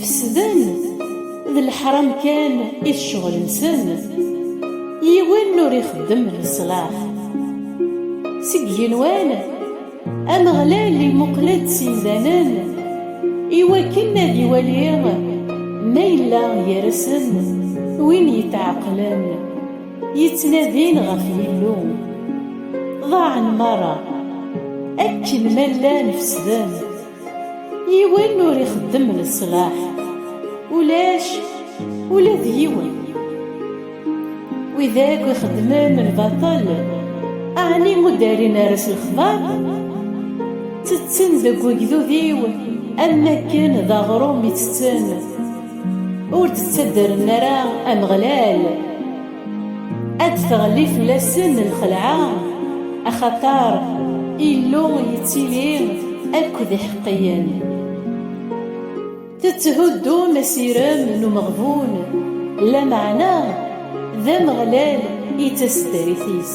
Fesden, d leḥram kan i ccɣel-nsen, yiwen ur ixeddem leṣlaḥ. Seg yigenwan, Ameɣlal imuqel-d s imdanen i wakken ad iwali ma yella gar-asen win yetɛeqqlen, yettnadin ɣef Yillu. Ḍaɛen merra, akken ma llan fesden. yiwen ur ixeddem leṣlaḥ ulac ula d yiwen wid akk ixeddmen lbaṭel ɛni ur d-rrin ara s lexbar ttetten deg ugdud-iw am wakken d aɣrum i ttetten ur d-ttaddren ara Ameɣlal Ad teɣli fell-asen lxelɛa, axaṭer Illu yettili akked iḥeqqiyen. Tetthuddum asirem n umeɣbun, lameɛna d Ameɣlal i d taseddarit-is.